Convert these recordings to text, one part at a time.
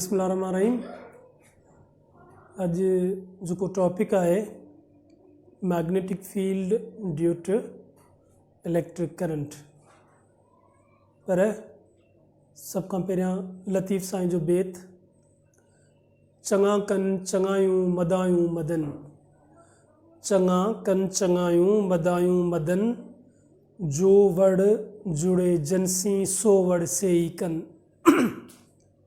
بسم الله الرحمن الرحيم اڄ جيڪو ٽاپڪ آهي magnetic field due to electric current پر سڀ کان پهريان لطيف سائين جو بيت چڱا ڪن چڱايون مدايون مدن چڱا ڪن چڱايون مدايون مدن جو وڙ جڙي جنسي سو وڙ سي ئي ڪن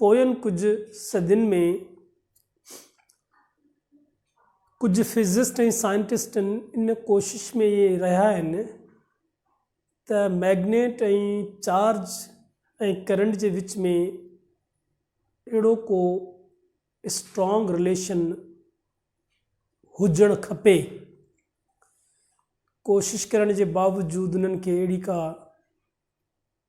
پوين ڪجهه صدين ۾ ڪجهه فزسٽ ۽ سائنٽسٽن ان ڪوشش ۾ رهيا آهن ته مئگنيٽ ۽ چارج ۽ ڪرنٽ جي وچ ۾ اهڙو ڪو اسٽرانگ رليشن هجڻ کپي ڪوشش ڪرڻ جي باوجود انهن کي اهڙي ڪا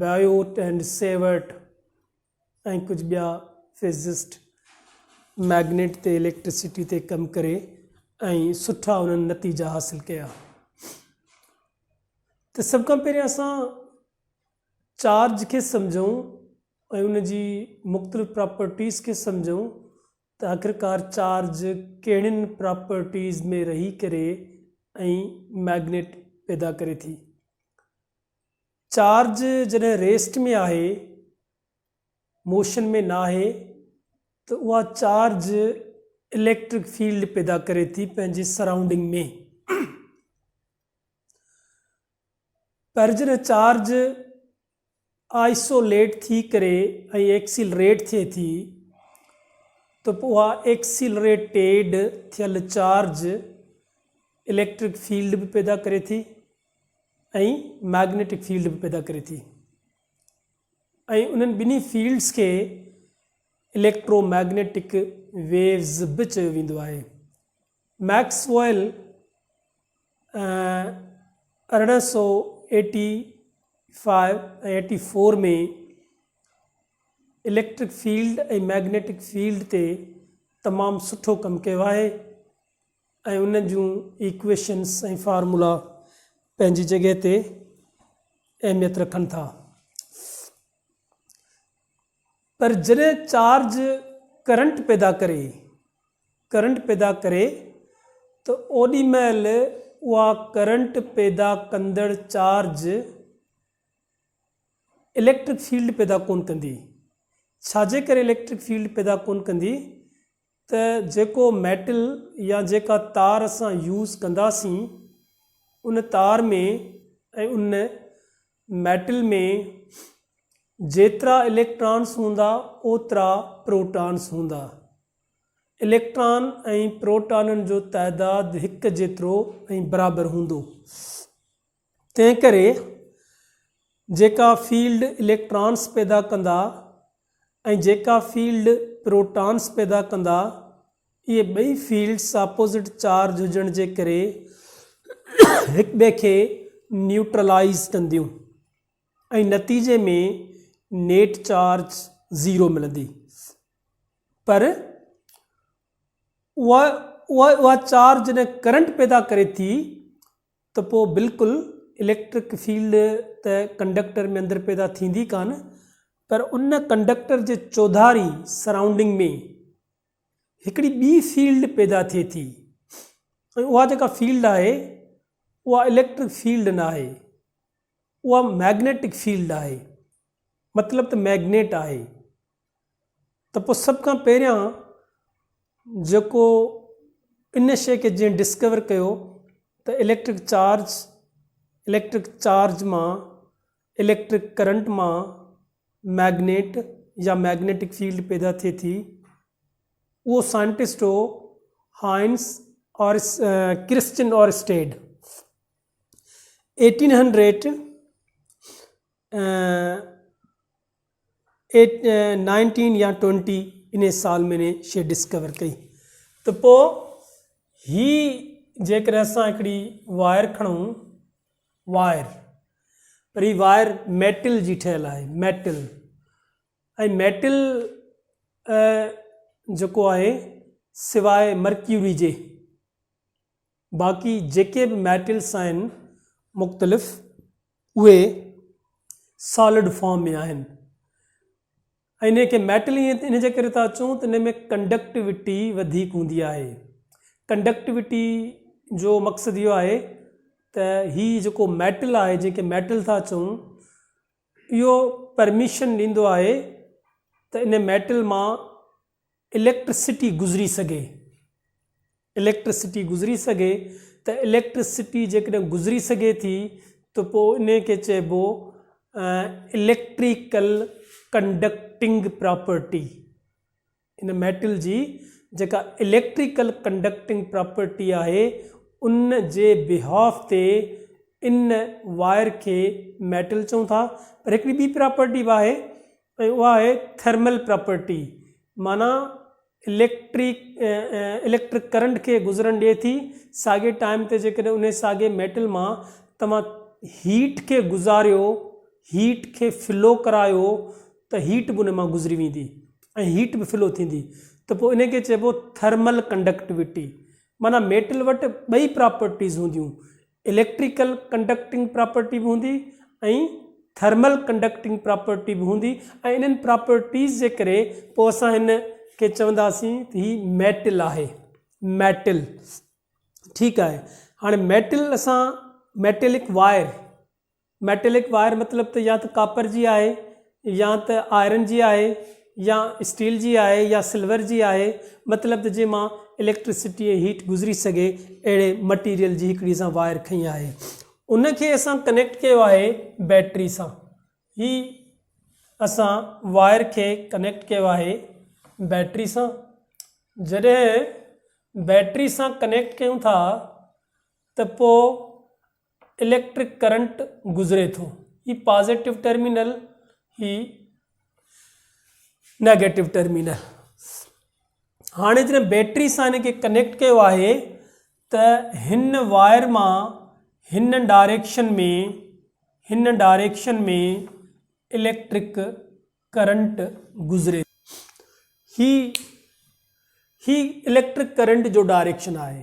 بيوٽ ۽ سيورٽ ۽ ڪجهه ٻيا فزسٽ مئگنيٽ تي اليڪٽرسٽي تي ڪم ڪري ۽ سٺا انهن نتيجا حاصل ڪيا ته سڀ کان پهريان اسان چارج کي سمجھون ۽ ان جي مختلف پراپرٽيز کي سمجھون ته آخرڪار چارج ڪهڙين پراپرٽيز ۾ رهي ڪري ۽ مئگنيٽ پيدا ڪري ٿي چارج جڏهن ريسٽ ۾ آهي، موشن ۾ ناهي، ته اها چارج اليڪٽرڪ فيلڊ پيدا ڪري ٿي پنهنجي سرائونڊنگ ۾. پر جڏهن چارج آئسوليٽ ٿي ڪري ۽ ايڪسيلريٽ ٿئي ٿي، ته پوء اها ايڪسيلريٽيڊ ٿيل چارج اليڪٽرڪ فيلڊ به پيدا ڪري ٿي. ۽ مئگنيٽڪ فيلڊ به پيدا ڪري ٿي ۽ انهن ٻنهي فيلڊز کي اليڪٽرو مئگنيٽڪ ويوز به چيو ويندو آهي Maxwell 1884 ۾ electric field ۽ magnetic field تي تمام سٺو ڪم ڪيو آهي ۽ انهن جون ايڪويشنز ۽ فارمولا پنهنجي جڳهه تي اهميت رکن ٿا. پر جڏهن چارج ڪرنٽ پيدا ڪري Current پيدا ڪري ته اوڏي مهل اها ڪرنٽ پيدا ڪندڙ چارج اليڪٽرڪ فيلڊ پيدا ڪونه ڪندي. ڇا جي ڪري اليڪٽرڪ فيلڊ پيدا ڪونه ڪندي؟ ته جيڪو ميٽل يا جيڪا تار اسان يوز ڪنداسين ان تار ۾ ۽ ان ميٽل ۾ جيترا اليڪٽرانس هوندا اوترا پروٽانس هوندا. اليڪٽران ۽ پروٽانن جو تعداد هڪ جيترو ۽ برابر هوندو. تنهنڪري جيڪا فيلڊ اليڪٽرانس پيدا ڪندا ۽ جيڪا فيلڊ پروٽانس پيدا ڪندا اهي ٻئي فيلڊس اپوزٽ چارج هجڻ جي ڪري هڪٻئي کي نيوٽرلائيز ڪنديون ۽ نتيجي ۾ نيٽ چارج زيرو ملندي پر اها چارج جڏهن ڪرنٽ پيدا ڪري ٿي ته پوء بلڪل اليڪٽرڪ فيلڊ ته ڪنڊڪٽر ۾ اندر پيدا ٿيندي ڪانه پر ان ڪنڊڪٽر جي چوڌاري، Surrounding، ۾ هڪڙي ٻي فيلڊ پيدا ٿئي ٿي ۽ اها جيڪا فيلڊ آهي اها اليڪٽرڪ فيلڊ ناهي اها مئگنيٽڪ فيلڊ آهي مطلب ته مئگنيٽ آهي. ته پوء سڀ کان پهريان جيڪو ان شيء کي جنهن ڊسڪور ڪيو ته اليڪٽرڪ چارج، اليڪٽرڪ چارج مان، اليڪٽرڪ ڪرنٽ مان مئگنيٽ يا مئگنيٽڪ فيلڊ پيدا ٿئي ٿي، اهو سائنٽسٽ هو Hans Christian Oersted. Eighteen hundred nineteen يا ٽوئنٽي انهي سال ۾ انهي شي ڊسڪور ڪئي ته پوء هي جيڪڏهن اسان هڪڙي واير کڻون واير پر هي واير ميٽل جي ٺهيل آهي ميٽل ۽ ميٽل جيڪو آهي سواء مرڪيوري جي باقي جيڪي به ميٽلس آهن مختلف اهي سالڊ فارم ۾ آهن ۽ ان کي ميٽل ائين ان جي ڪري ٿا چون ته ان ۾ ڪنڊڪٽيوٽي وڌيڪ هوندي آهي ڪنڊڪٽيوٽي جو مقصد اهو آهي ته هي جيڪو ميٽل آهي جيڪي ميٽل ٿا چون اهو پرميشن ڏيندو آهي ته ان ميٽل مان اليڪٽرسٽي گذري سگهي، اليڪٽرسٽي گذري سگهي ته اليڪٽرسٽي جيڪڏهن گذري سگهي ٿي ته پوء انهي کي چئبو اليڪٽريڪل ڪنڊڪٽنگ پراپرٽي. ان ميٽل جي جيڪا اليڪٽريڪل ڪنڊڪٽنگ پراپرٽي آهي ان جي بيهاف تي ان وائر کي ميٽل چئون ٿا پر هڪڙي ٻي پراپرٽي به آهي ۽ اها آهي ٿرمل پراپرٽي معنيٰ اليڪٽرڪ اليڪٽرڪ ڪرنٽ کي گذرڻ ڏئي ٿي ساڳي ٽائيم تي جيڪڏهن انهي ساڳي ميٽل مان توهان هيٽ کي گذاريو هيٽ کي فلو ڪرايو ته هيٽ به انهي مان گذري ويندي ۽ هيٽ به فلو ٿيندي ته پوء انهي کي چئبو ٿرمل ڪنڊڪٽوٽي معنيٰ ميٽل وٽ ٻئي پراپرٽيز هونديون اليڪٽريڪل ڪنڊڪٽنگ پراپرٽي به هوندي ۽ ٿرمل ڪنڊڪٽنگ پراپرٽي به هوندي ۽ انهن پراپرٽيز جي ڪري پوء اسان هن کي چونداسين ته هي ميٽل آهي ميٽل ٺيڪ آهي هاڻي ميٽل اسان ميٽلڪ وائر ميٽلڪ وائر مطلب ته يا ته ڪاپر جي آهي يا ته آئرن جي آهي يا اسٽيل جي آهي يا سلور جي آهي مطلب ته جنهن مان اليڪٽرسٽي ۽ هيٽ گذري سگهي اهڙي مٽيريل جي هڪڙي اسان وائر کنئي آهي ان کي اسان ڪنيڪٽ ڪيو آهي بيٽري سان هي اسان وائر کي ڪنيڪٽ ڪيو آهي بيٽري سان جڏهن بيٽري سان ڪنيڪٽ ڪيون ٿا ته پوء اليڪٽرڪ ڪرنٽ گذري ٿو. هي پازيٽو ٽرمينل هي نيگيٽو ٽرمينل هاڻي جڏهن بيٽري سان هن کي ڪنيڪٽ ڪيو آهي ته هن واير مان هن ڊائريڪشن ۾ هن ڊائريڪشن ۾ اليڪٽرڪ ڪرنٽ گذري ٿو هي هي اليڪٽرڪ ڪرنٽ جو ڊائريڪشن آهي.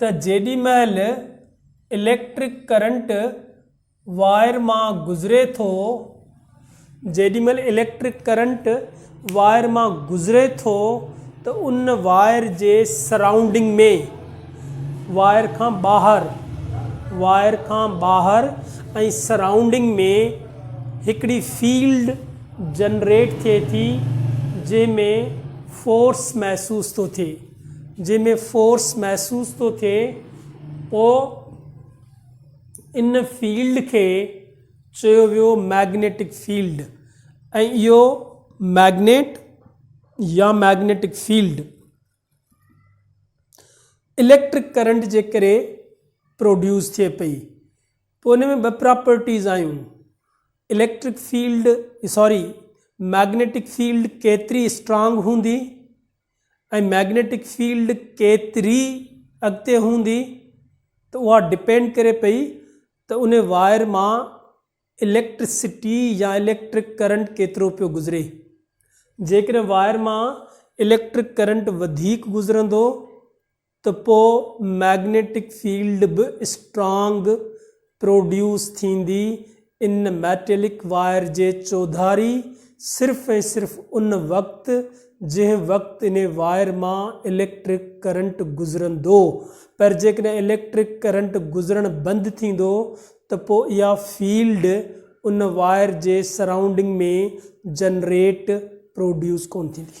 ته جيڏي مهل اليڪٽرڪ ڪرنٽ وائر مان گذري ٿو، جيڏي مهل اليڪٽرڪ ڪرنٽ وائر مان گذري ٿو ته ان وائر جي سرائونڊنگ ۾، وائر کان ٻاهر، وائر کان ٻاهر ۽ سرائونڊنگ ۾ هڪڙي فيلڊ جنريٽ ٿئي ٿي جنهن ۾ فورس محسوس ٿو ٿئي. جنهن ۾ فورس محسوس ٿو ٿئي پوء ان فيلڊ کي چيو ويو مئگنيٽڪ فيلڊ ۽ اهو مئگنيٽ يا مئگنيٽڪ فيلڊ اليڪٽرڪ ڪرنٽ جي ڪري پروڊيوس ٿئي پئي پوء ان ۾ ٻه پراپرٽيز آيون electric field sorry magnetic field ڪيتري اسٽرانگ هوندي ۽ مئگنيٽڪ فيلڊ ڪيتري اڳتي هوندي ته اها ڊپينڊ ڪري پئي ته ان وائر مان اليڪٽرسٽي يا اليڪٽرڪ ڪرنٽ ڪيترو پيو گذري جيڪڏهن وائر مان اليڪٽرڪ ڪرنٽ وڌيڪ گذرندو ته پوء مئگنيٽڪ فيلڊ به اسٽرانگ پروڊيوس ٿيندي ان ميٽلڪ وائر جي چوڌاري صرف ۽ صرف ان وقت جنهن وقت ان وائر مان اليڪٽرڪ ڪرنٽ گذرندو پر جيڪڏهن اليڪٽرڪ ڪرنٽ گذرڻ بند ٿيندو ته پوء اها فيلڊ ان وائر جي سرائونڊنگ ۾ جنريٽ، پروڊيوس، ڪونه ٿيندي.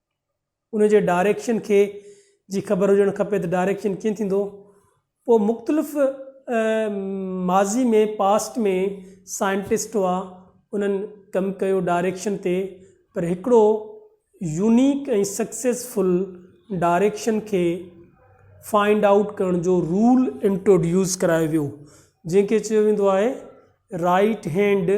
ان جي ڊائريڪشن کي جي خبر هجڻ کپي ته ڊائريڪشن ڪيئن ٿيندو پوء مختلف ماضي ۾ پاسٽ ۾ سائنٽسٽ هئا انهن ڪم ڪيو ڊائريڪشن تي پر هڪڙو يونيڪ ۽ سڪسيسفل ڊائريڪشن کي فائنڊ آئوٽ ڪرڻ جو رول انٽروڊيوس ڪرايو ويو جنهن کي چيو ويندو آهي رائيٽ هينڊ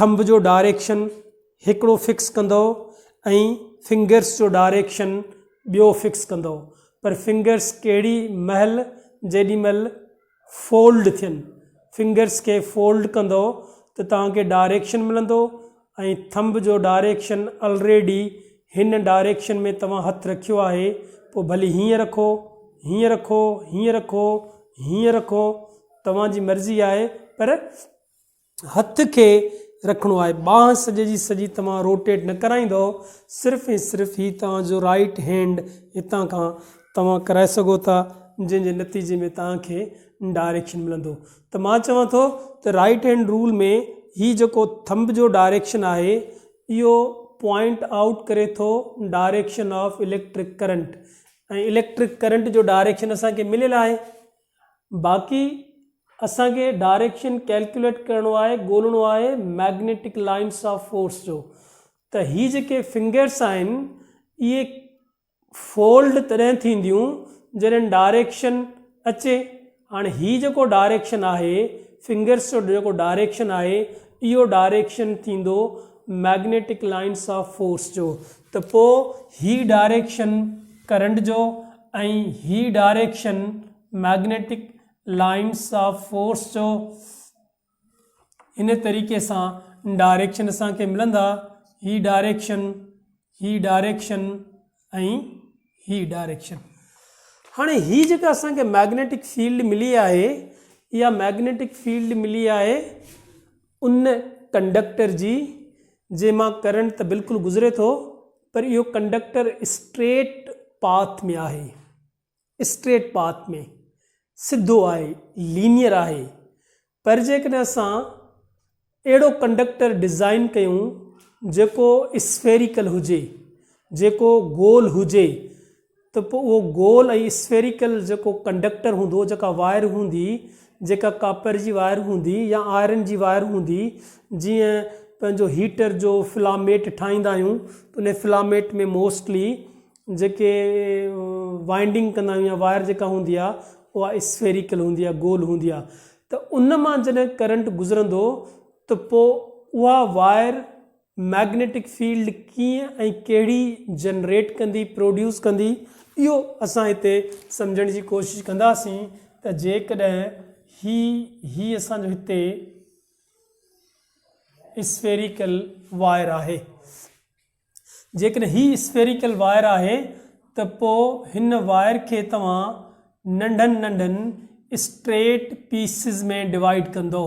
ٿنب جو ڊائريڪشن هڪڙو فڪس ڪندؤ ۽ فنگرس جو ڊائريڪشن ٻيو فڪس ڪندؤ پر فنگرس ڪهڙي مهل جيڏي مهل فولڊ ٿين فنگرس کي فولڊ ڪندؤ ته توهان کي ڊائريڪشن ملندو ۽ ٿنب جو ڊائريڪشن الريڊي هن ڊائريڪشن ۾ توهان هٿ رکيو آهي پوء ڀلي هيئن رکو هيئن رکو هيئن رکو هيئن رکو توهان جي مرضي آهي پر هٿ کي رکڻو آهي ٻانهن سڄي جي سڄي توهان روٽيٽ نه ڪرائيندؤ صرف ۽ صرف هي توهان جو رائيٽ هينڊ هتان کان توهان ڪرائي سگهو ٿا جنهن جي نتيجي ۾ توهان کي ڊائريڪشن ملندو ته مان چوان ٿو ته رائيٽ هينڊ رول ۾ هي جيڪو ٿمب جو ڊائريڪشن آهي اهو پوائنٽ آئوٽ ڪري ٿو direction of electric current ۽ electric current جو ڊائريڪشن اسان کي مليل آهي باقي اسان کي ڊائريڪشن ڪيلڪيوليٽ ڪرڻو آهي ڳولڻو آهي ميگنيٽڪ لائنس آف فورس جو ته هي جيڪي فنگرس آهن اهي فولڊ تڏهن ٿينديون جڏهن ڊائريڪشن اچي هاڻي هي جيڪو ڊائريڪشن آهي فنگرس جو جيڪو ڊائريڪشن آهي اهو ڊائريڪشن ٿيندو ميگنيٽڪ لائنس آف فورس جو ته پوء هي ڊائريڪشن ڪرنٽ جو ۽ هي direction magnetic lines of force جو هن طريقي سان ڊائريڪشن اسان کي ملندا هي ڊائريڪشن هي ڊائريڪشن ۽ هي ڊائريڪشن هاڻي هي جيڪا اسان کي مئگنيٽڪ فيلڊ ملي آهي اها مئگنيٽڪ فيلڊ ملي آهي ان ڪنڊڪٽر جي جنهن مان ڪرنٽ ته بلڪل گذري ٿو پر اهو ڪنڊڪٽر اسٽريٽ پاٿ ۾ آهي اسٽريٽ پاٿ ۾ سڌو آهي لينيئر آهي پر جيڪڏهن اسان اهڙو ڪنڊڪٽر ڊزائين ڪيون جيڪو اسفيريڪل هجي جيڪو گول هجي ته پوء اهو گول ۽ اسفيريڪل جيڪو ڪنڊڪٽر هوندو، جيڪا وائر هوندي، جيڪا ڪاپر جي وائر هوندي يا آئرن جي وائر هوندي، جيئن پنهنجو هيٽر جو فلاميٽ ٺاهيندا آهيون ته انهي فلاميٽ ۾ موسٽلي جيڪي وائنڊنگ ڪندا آهيون يا وائر جيڪا هوندي آهي اها اسفيريڪل هوندي آهي گول هوندي آهي ته ان مان جڏهن ڪرنٽ گذرندو ته پوء اها وائر مئگنيٽڪ فيلڊ ڪيئن ۽ ڪهڙي جنريٽ ڪندي، پروڊيوس ڪندي، اهو اسان هتي سمجهڻ جي ڪوشش ڪنداسين ته جيڪڏهن هي هي اسان جو هتي اسفيريڪل وائر آهي، جيڪڏهن هي اسفيريڪل وائر آهي ته پوء هن وائر کي توهان ننڍن ننڍن اسٽريٽ پيسز ۾ ڊوائيڊ ڪندو،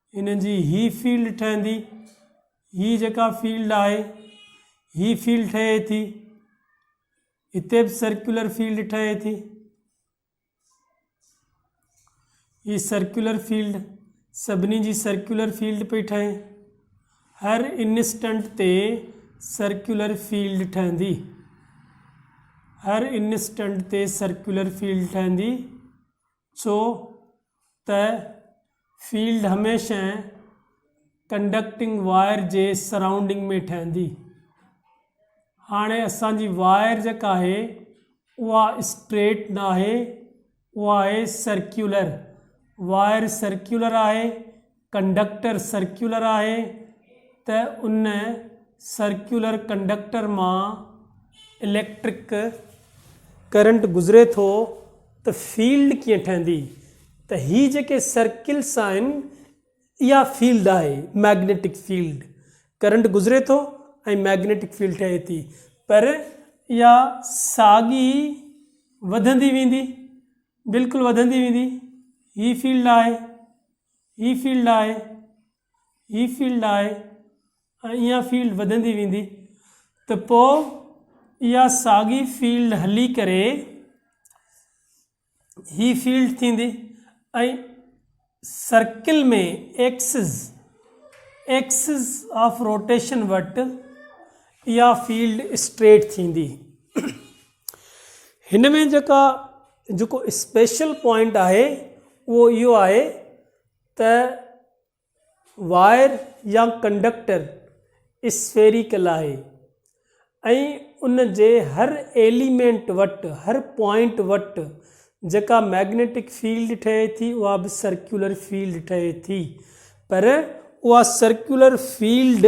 هن جي هي فيلڊ ٺهندي، هي جيڪا فيلڊ آهي، هي فيلڊ ٺهي ٿي، هتي به سرڪيولر فيلڊ ٺهي ٿي، هي سرڪيولر فيلڊ سڀني جي سرڪيولر فيلڊ پئي ٺهي هر انسٽنٽ تي سرڪيولر فيلڊ ٺهندي هر انسٽنٽ تي سرڪيولر فيلڊ ٺهندي ڇو ته فيلڊ هميشه ڪنڊڪٽنگ وائر جي سرائونڊنگ ۾ ٺهندي. هاڻي اسان جي وائر جيڪا آهي اها اسٽريٽ نه آهي اها آهي سرڪيولر وائر سرڪيولر آهي ڪنڊڪٽر سرڪيولر آهي ته ان سرڪيولر ڪنڊڪٽر مان اليڪٽرڪ ڪرنٽ گذري ٿو ته فيلڊ ڪيئن ٺهندي ته هي جيڪي سرڪلس آهن اها فيلڊ آهي مئگنيٽڪ فيلڊ ڪرنٽ گذري ٿو ۽ مئگنيٽڪ فيلڊ ٺهي ٿي پر اها ساڳي وڌندي ويندي بلڪل وڌندي ويندي هي فيلڊ آهي هي فيلڊ آهي، هي فيلڊ آهي ۽ اها فيلڊ وڌندي ويندي ته پوء اها ساڳي فيلڊ هلي ڪري هي فيلڊ ٿيندي ۽ circle ۾ axis axis of rotation وٽ اها فيلڊ اسٽريٽ ٿيندي هن ۾ جيڪا جيڪو اسپيشل پوائنٽ آهي اهو اهو آهي ته وائر يا ڪنڊڪٽر اسفيريڪل آهي ۽ ان جي هر ايليمينٽ وٽ هر پوائنٽ وٽ جيڪا مئگنيٽڪ فيلڊ ٺهي ٿي اها به سرڪيولر فيلڊ ٺهي ٿي پر اها سرڪيولر فيلڊ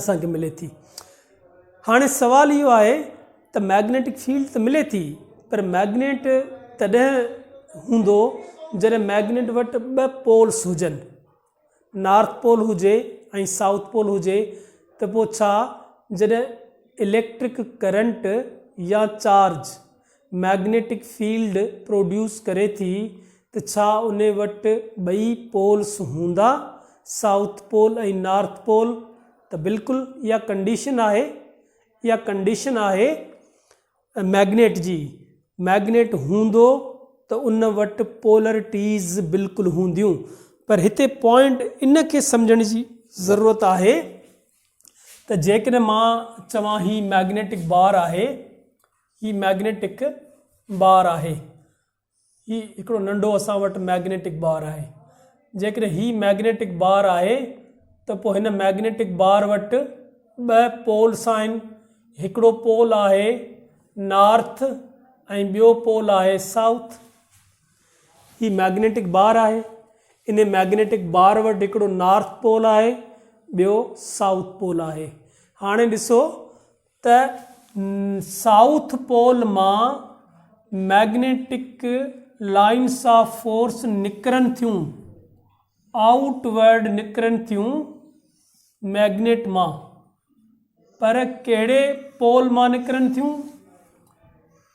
اسان کي ملي ٿي هاڻي سوال اهو آهي ته ميگنيٽڪ فيلڊ ته ملي ٿي پر ميگنيٽ تڏهن هوندو جڏهن ميگنيٽ وٽ ٻه پولس هجن نارٿ پول هجي ۽ سائوٿ پول هجي ته پوء ڇا جڏهن اليڪٽرڪ ڪرنٽ يا چارج مئگنيٽڪ فيلڊ پروڊيوس ڪري ٿي ته ڇا ان وٽ ٻئي پولس هوندا سائوٿ پول ۽ نارٿ پول ته بلڪل اها ڪنڊيشن آهي اها ڪنڊيشن آهي مئگنيٽ جي مئگنيٽ هوندو ته ان وٽ پولرٽيز بلڪل هونديون پر هتي پوائنٽ ان کي سمجهڻ جي ضرورت آهي ته جيڪڏهن مان چوان هي مئگنيٽڪ بار آهي هي مئگنيٽڪ بار آهي. هي هڪڙو ننڍو اسان وٽ مئگنيٽڪ بار آهي. جيڪڏهن هي مئگنيٽڪ بار آهي ته پوء هن مئگنيٽڪ بار وٽ ٻه پولس آهن. هڪڙو پول آهي نارٿ ۽ ٻيو پول آهي سائوٿ. هي مئگنيٽڪ بار آهي. انهي مئگنيٽڪ بار وٽ هڪڙو نارٿ پول آهي ٻيو سائوٿ پول آهي. هاڻي ڏسو ته سائوٿ پول مان مئگنيٽڪ لائنس آف فورس نڪرن ٿيون، آئوٽ ورڊ نڪرن ٿيون مئگنيٽ مان، پر ڪهڙي پول مان نڪرن ٿيون؟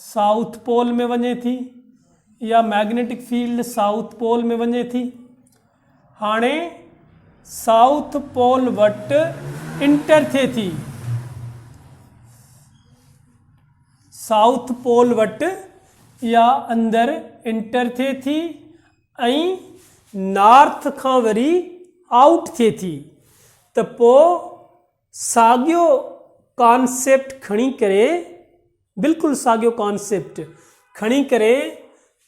سائوٿ پول ۾ وڃي ٿي يا مئگنيٽڪ فيلڊ سائوٿ پول ۾ وڃي ٿي هاڻي سائوٿ پول وٽ انٽر ٿئي ٿي سائوٿ پول وٽ يا اندر انٽر ٿئي ٿي ۽ نارٿ کان وري آئوٽ ٿئي ٿي ته پوء ساڳيو ڪانسيپٽ کڻي ڪري، بلڪل ساڳيو ڪانسيپٽ کڻي ڪري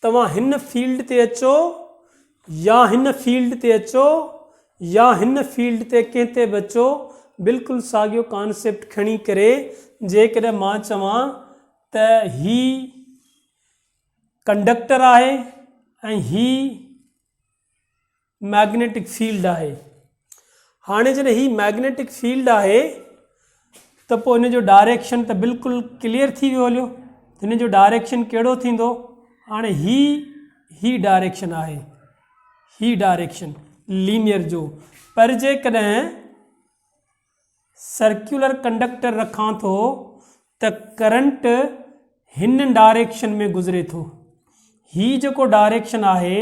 توهان هن فيلڊ تي اچو يا هن فيلڊ تي اچو يا هن فيلڊ تي ڪنهن تي به اچو بلڪل ساڳيو ڪانسيپٽ کڻي ڪري جيڪڏهن مان چوان ته هي ڪنڊڪٽر آهي ۽ هي مئگنيٽڪ فيلڊ آهي هاڻي جڏهن هي مئگنيٽڪ فيلڊ آهي ته پوء هن جو ڊائريڪشن ته بلڪل ڪليئر ٿي ويو هليو هن جو ڊائريڪشن ڪهڙو ٿيندو هاڻي هي هي ڊائريڪشن آهي هي ڊائريڪشن لينيئر جو پر جيڪڏهن سرڪيولر ڪنڊڪٽر رکان ٿو ته ڪرنٽ هن ڊائريڪشن ۾ گذري ٿو هي جيڪو ڊائريڪشن آهي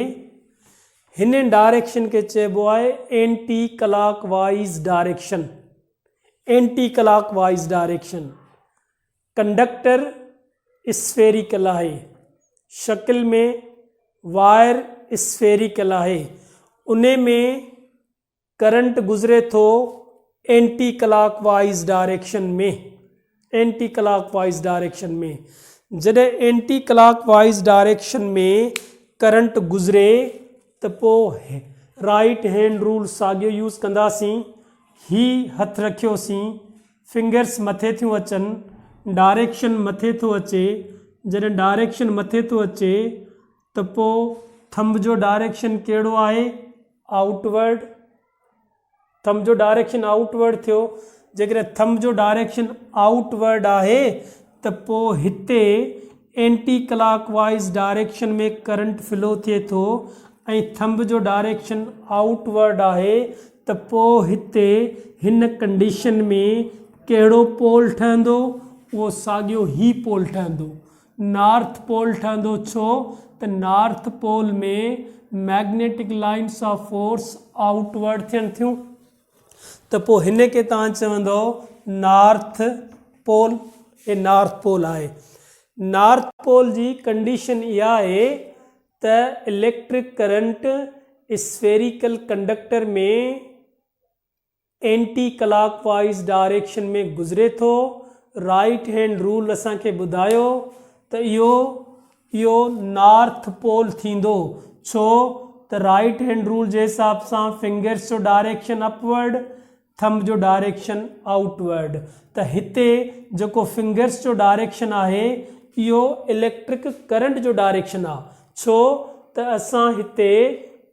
هن ڊائريڪشن کي چئبو آهي اينٽي ڪلاڪ وائيز ڊائريڪشن اينٽي ڪلاڪ وائيز ڊائريڪشن ڪنڊڪٽر اسفيريڪل آهي شڪل ۾ وائر اسفيريڪل آهي ان ۾ ڪرنٽ گذري ٿو اينٽي ڪلاڪ وائيز ڊائريڪشن ۾ اينٽي ڪلاڪ وائيز ڊائريڪشن ۾ جڏهن اينٽي ڪلاڪ وائيز ڊائريڪشن ۾ ڪرنٽ گذري ته پو رائيٽ هينڊ رول ساڳيو يوز ڪنداسين هي هٿ رکيو سين فنگرس مٿي ٿيون اچن ڊائريڪشن مٿي ٿو اچي جڏهن ڊائريڪشن مٿي ٿو اچي ته پوء ٿنب جو ڊائريڪشن ڪهڙو آهي؟ آئوٽ ورڊ ٿنب جو ڊائريڪشن آئوٽ ورڊ ٿيو جيڪڏهن ٿنب جو ڊائريڪشن آئوٽ ورڊ آهي ته پوء هتي اينٽي ڪلاڪ وائيز ڊائريڪشن ۾ ڪرنٽ فلو ٿئي ٿو ۽ ٿنب جو ڊائريڪشن آئوٽ ورڊ آهي ته پوء هتي هن ڪنڊيشن ۾ ڪهڙو پول ٺهندو؟ اهو ساڳيو هي پول ٺهندو نارٿ پول ٺهندو ڇو ته north pole ۾ magnetic lines of force outward ٿين ٿيون ته پوء هن کي تان چوندو نارٿ پول هي نارٿ پول آهي نارٿ پول جي ڪنڊيشن اها آهي ته electric current spherical conductor ۾ anti ڪلاڪ وائيز ڊائريڪشن ۾ گذري ٿو. رائيٽ هينڊ رول اسان کي ٻڌايو ته اهو اهو نارٿ پول ٿيندو ڇو ته رائيٽ هينڊ رول جي حساب سان فنگرس جو ڊائريڪشن اپ ورڊ ٿنب جو ڊائريڪشن آئوٽ ورڊ ته هتي جيڪو فنگرس جو ڊائريڪشن آهي اهو اليڪٽرڪ ڪرنٽ جو ڊائريڪشن آ ڇو ته اسان هتي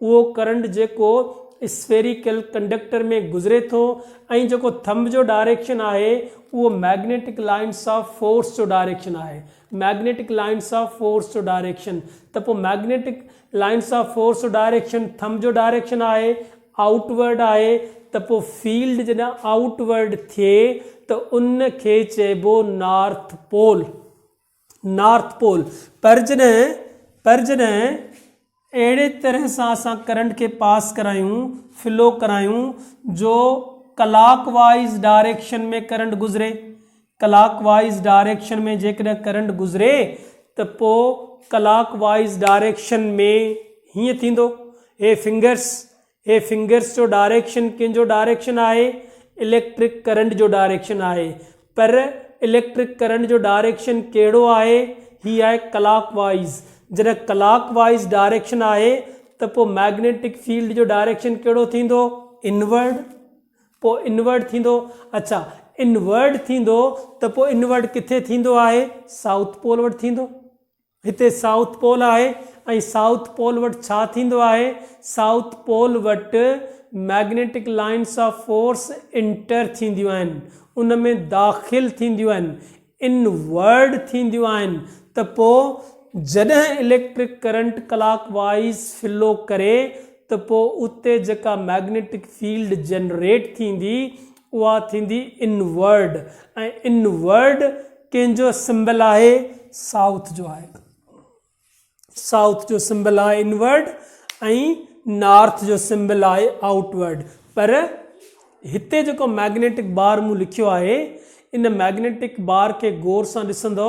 اهو ڪرنٽ جيڪو اسفيريڪل ڪنڊڪٽر ۾ گذري ٿو ۽ جيڪو ٿنب جو ڊائريڪشن آهي اهو مئگنيٽڪ لائنس آف فورس جو ڊائريڪشن آهي مئگنيٽڪ لائنس آف فورس جو ڊائريڪشن ته پوء مئگنيٽڪ لائنس آف فورس جو ڊائريڪشن ٿنب جو ڊائريڪشن آهي آئوٽ ورڊ آهي ته پوء فيلڊ جڏهن آئوٽ ورڊ ٿئي ته ان کي چئبو نارٿ پول. نارٿ پول، پر جڏهن پر جڏهن اهڙي طرح سان اسان ڪرنٽ کي پاس ڪرايون، فلو ڪرايون، جو ڪلاڪ وائيز ڊائريڪشن ۾ ڪرنٽ گذري، ڪلاڪ وائيز ڊائريڪشن ۾ جيڪڏهن ڪرنٽ گذري ته پوء ڪلاڪ وائيز ڊائريڪشن ۾ هيئن ٿيندو، هي فنگرس هي فنگرس جو ڊائريڪشن ڪنهن جو ڊائريڪشن آهي؟ اليڪٽرڪ ڪرنٽ جو ڊائريڪشن آهي. پر اليڪٽرڪ ڪرنٽ جو ڊائريڪشن ڪهڙو آهي؟ هي آهي ڪلاڪ وائيز. جڏهن ڪلاڪ وائيز ڊائريڪشن آهي ته پوء مئگنيٽڪ فيلڊ جو ڊائريڪشن ڪهڙو ٿيندو؟ انورڊ. پوء انورڊ ٿيندو. اڇا انورڊ ٿيندو ته پوء انورڊ ڪٿي ٿيندو آهي؟ سائوٿ پول وٽ ٿيندو. هتي سائوٿ پول آهي ۽ سائوٿ پول وٽ ڇا ٿيندو آهي؟ سائوٿ پول وٽ magnetic lines of force enter ٿينديون آهن، ان ۾ داخل ٿينديون آهن، ان ورڊ ٿينديون آهن ته پوء جڏهن electric current clockwise flow ڪري ته پوء اتي جيڪا مئگنيٽڪ فيلڊ جنريٽ ٿيندي اها ٿيندي ان ورڊ ۽ ان ورڊ ڪنهن جو سمبل آهي سائوٿ جو آهي سائوٿ جو سمبل آهي ان ورڊ ۽ نارٿ جو سمبل آهي آؤٽ ورڊ پر هتي جيڪو ميگنيٽڪ بار مون لکيو آهي ان ميگنيٽڪ بار کي غور سان ڏسندو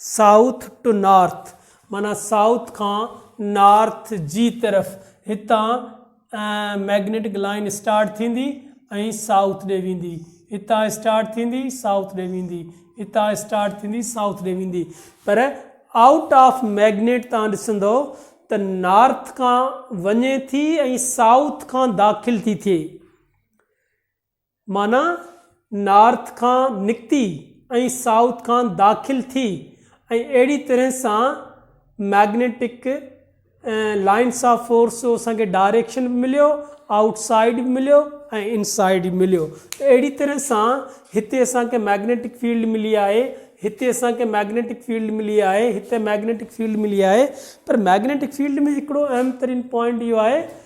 South to North معنيٰ سائوٿ کان نارٿ جي طرف، هتان مئگنيٽڪ لائين اسٽارٽ ٿيندي ۽ سائوٿ ڏي ويندي، هتان اسٽارٽ ٿيندي سائوٿ ڏي ويندي، هتان اسٽارٽ ٿيندي سائوٿ ڏي ويندي پر آئوٽ آف مئگنيٽ تان ڏسندو ته نارٿ کان وڃي ٿي ۽ سائوٿ کان داخل ٿي ٿئي. معنيٰ نارٿ کان نڪتي ۽ سائوٿ کان داخل ٿي ۽ اهڙي طرح سان مئگنيٽڪ لائنس آف فورس جو اسان کي ڊائريڪشن به مليو آئوٽ سائيڊ به مليو ۽ ان سائيڊ به مليو ته اهڙي طرح سان هتي اسان کي مئگنيٽڪ فيلڊ ملي آهي هتي اسان کي مئگنيٽڪ فيلڊ ملي آهي هتي مئگنيٽڪ فيلڊ ملي آهي پر مئگنيٽڪ فيلڊ ۾ هڪڙو اهم ترين پوائنٽ اهو آهي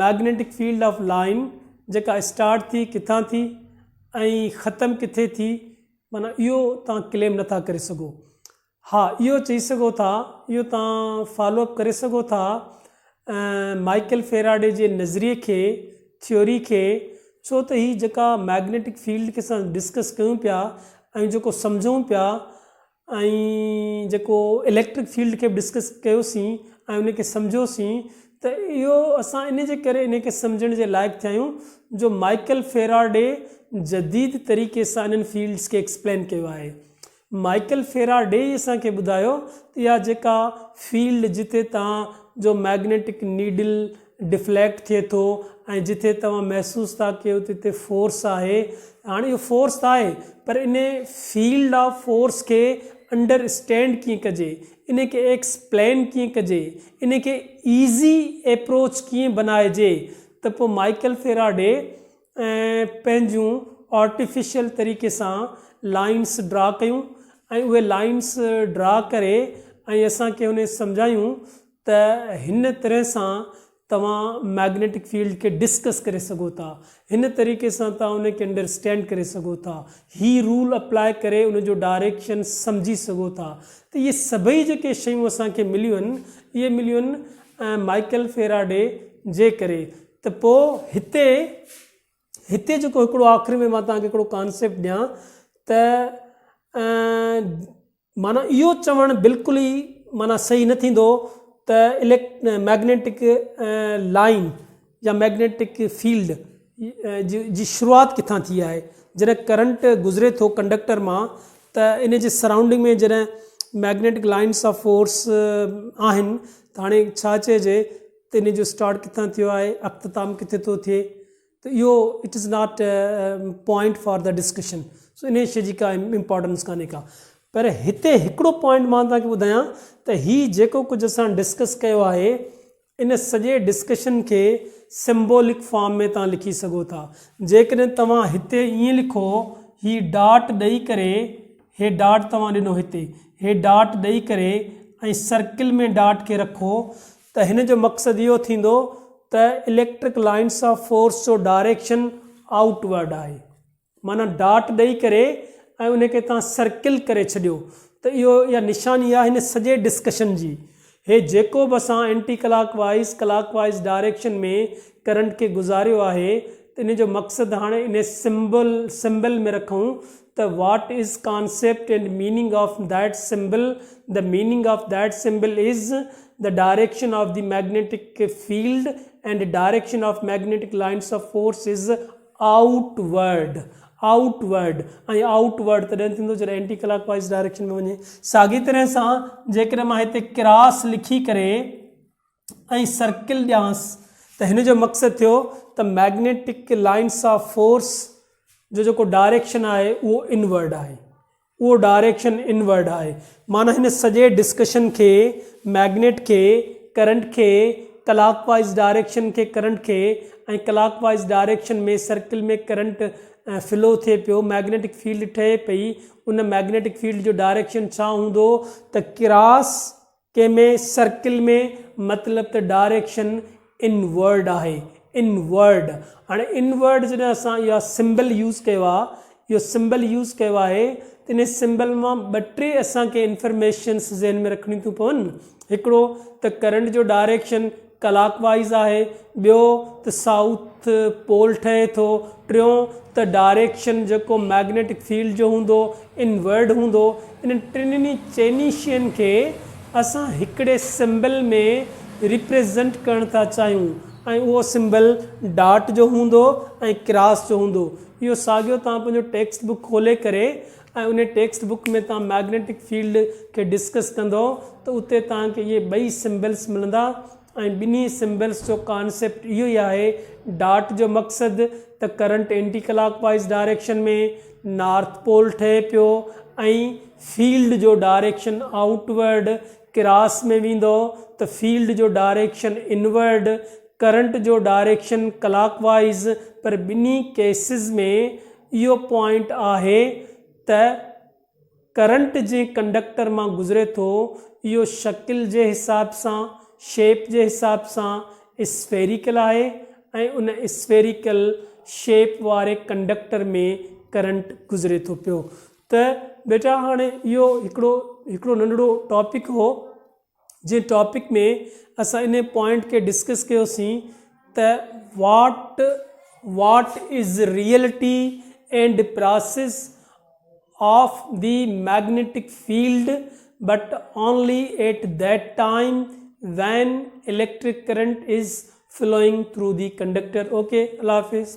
مئگنيٽڪ فيلڊ آف لائين جيڪا اسٽارٽ ٿي ڪٿان ٿي ۽ ختم ڪٿي ٿي معنيٰ اهو تان ڪليم نٿا ڪري سگهو ها اهو چئي سگهو ٿا اهو تان فالو اپ ڪري سگهو ٿا مائيڪل فيراڊي جي نظريي کي ٿيوري کي ڇو ته هي جيڪا مئگنيٽڪ فيلڊ کي اسان ڊسڪس ڪيون پيا ۽ جيڪو سمجهون پيا ۽ جيڪو اليڪٽرڪ فيلڊ کي به ڊسڪس ڪيوسين ۽ ان کي سمجهيوسين ته اهو اسان ان جي ڪري ان کي سمجهڻ جي لائق ٿيا آهيون جو مائيڪل فيراڊي جديد طريقي سان انهن فيلڊس کي ايڪسپلين ڪيو آهي. مائيڪل فيراڊي ئي اسان کي ٻڌايو ته اها جيڪا فيلڊ جتي تان جو مئگنيٽڪ نيڊل ڊفليڪٽ ٿئي ٿو ۽ جتي توهان محسوس ٿا ڪيو ته اتي فورس آهي هاڻي اهو فورس ته آهي پر ان فيلڊ آف فورس کي انڊر اسٽينڊ ڪيئن ڪجي ان کي ايڪسپلين ڪيئن ڪجي ان کي ايزي ايپروچ ڪيئن بنائجي ته پوء مائيڪل فيراڊي پنهنجون آرٽيفيشل طريقي سان لائنس ڊرا ڪيون ۽ اهي لائنس ڊرا ڪري ۽ اسان کي ان سمجهايون ته هن طرح سان توهان مئگنيٽڪ فيلڊ کي ڊسڪس ڪري سگهو ٿا. هن طريقي سان توهان ان کي انڊرسٽينڊ ڪري سگهو ٿا. هي رول اپلاء ڪري ان جو ڊائريڪشن سمجهي سگهو ٿا. ته اهي سڀئي جيڪي شيون اسان کي مليون آهن اهي مليون آهن مائيڪل فيراڊي جي ڪري. ته پوء هتي هتي جيڪو هڪڙو آخر ۾ مان توهان کي هڪڙو ڪانسيپٽ ڏيان ته معنيٰ اهو چوڻ بلڪل ئي معنيٰ صحيح نه ٿيندو ته مئگنيٽڪ لائين يا مئگنيٽڪ فيلڊ جي شروعات ڪٿان ٿي آهي جڏهن ڪرنٽ گذري ٿو ڪنڊڪٽر مان ته ان جي سرائونڊنگ ۾ جڏهن مئگنيٽڪ لائينس آف فورس آهن ته هاڻي ڇا چئجي ته ان جو اسٽارٽ ڪٿان ٿيو آهي اختتام ڪٿي ٿو ٿئي ته اهو it is not point for the discussion so انهي شي جي ڪا امپورٽنس ڪانهي ڪا پر هتي هڪڙو پوائنٽ مان توهان کي ٻڌايان ته هي جيڪو ڪجهه اسان ڊسڪس ڪيو آهي ان سڄي ڊسڪشن کي سمبولڪ فارم ۾ توهان لکي سگهو ٿا جيڪڏهن توهان هتي ائين لکو هي ڊاٽ ڏئي ڪري هي ڊاٽ توهان ڏنو هتي هي ڊاٽ ڏئي ڪري ۽ سرڪل ۾ ڊاٽ کي رکو ته هن جو مقصد اهو ٿيندو ته اليڪٽرڪ لائنس آف فورس جو ڊائريڪشن آئوٽ ورڊ آهي معنيٰ ڊاٽ ڏئي ڪري ۽ ان کي توهان سرڪل ڪري ڇڏيو ته اهو اها نشاني آهي هن سڄي ڊسڪشن جي هي جيڪو به اسان اينٽي ڪلاڪ وائيز ڪلاڪ وائيز ڊائريڪشن ۾ ڪرنٽ کي گذاريو آهي ته ان جو مقصد هاڻي ان سمبل سمبل ۾ رکون ته what is concept and meaning of that symbol, the meaning of that symbol is, the direction of the magnetic field and direction of magnetic lines of force is outward, outward, ۽ outward تڏهن ٿيندو جڏهن anti ڪلاڪ wise direction ۾ وڃي. ساڳي طرح سان جيڪڏهن مان هتي ڪراس لکي ڪري ۽ سرڪل ڏيانس ته هن جو مقصد ٿيو ته مئگنيٽڪ لائنس آف فورس جو جيڪو ڊائريڪشن آهي اهو انورڊ آهي اهو ڊائريڪشن انورڊ آهي معنيٰ هن سڄي ڊسڪشن کي مئگنيٽ کي ڪرنٽ کي ڪلاڪ وائيز ڊائريڪشن کي ڪرنٽ کي ۽ ڪلاڪ wise direction ۾ circle ۾ current flow ٿئي پيو مئگنيٽڪ فيلڊ ٺهي پئي ان مئگنيٽڪ فيلڊ جو ڊائريڪشن ڇا هوندو ته ڪراس ڪنهن ۾ سرڪل ۾ مطلب ته ڊائريڪشن ان ورڊ آهي ان ورڊ هاڻي ان ورڊ جڏهن اسان اها سمبل يوز ڪيو آهي اهو سمبل يوز ڪيو آهي ته ان سمبل مان ٻه ٽي اسان کي انفرميشنس ذهن ۾ رکڻيون ٿيون پون هڪڙو ته ڪرنٽ جو ڊائريڪشن ڪلاڪ وائيز آهي، ٻيو ته سائوٿ پول ٺهي ٿو، ٽيون ته ڊائريڪشن جيڪو مئگنيٽڪ فيلڊ جو هوندو، انورڊ هوندو. انهن ٽنهي چئني شين کي اسان هڪڙي سمبل ۾ ريپريزنٽ ڪرڻ ٿا چاهيون ۽ اهو سمبل ڊاٽ جو هوندو ۽ ڪراس جو هوندو. اهو ساڳيو توهان پنهنجو ٽيڪسٽ بڪ کولي ڪري ۽ انهي ٽيڪسٽ بڪ ۾ توهان مئگنيٽڪ فيلڊ کي ڊسڪس ڪندئو ته اتي توهان کي اهي ٻئي سمبلس ملندا ۽ ٻنهي سمبلس جو ڪانسيپٽ اهو ئي آهي ڊاٽ جو مقصد ته ڪرنٽ اينٽي ڪلاڪ وائيز ڊائريڪشن ۾ نارٿ پول ٺهي پيو ۽ فيلڊ جو ڊائريڪشن آئوٽ ورڊ ڪراس ۾ ويندئو ته فيلڊ جو ڊائريڪشن انورڊ ڪرنٽ جو ڊائريڪشن ڪلاڪ وائيز پر ٻنهي ڪيسز ۾ اهو پوائنٽ آهي ته ڪرنٽ جنهن ڪنڊڪٽر مان گذري ٿو اهو شڪل جي حساب سان شيپ جي حساب سان اسفيريڪل آهي ۽ ان اسفيريڪل شيپ واري ڪنڊڪٽر ۾ ڪرنٽ گذري ٿو پيو ته بيٽا هاڻي اهو هڪڙو هڪڙو ننڍڙو ٽاپڪ هو جنهن ٽاپڪ ۾ اسان انهي پوائنٽ کي ڊسڪس ڪيو سين ته what what is reality and process of the magnetic field but only at that time when electric current is flowing through the conductor okay الله حافظ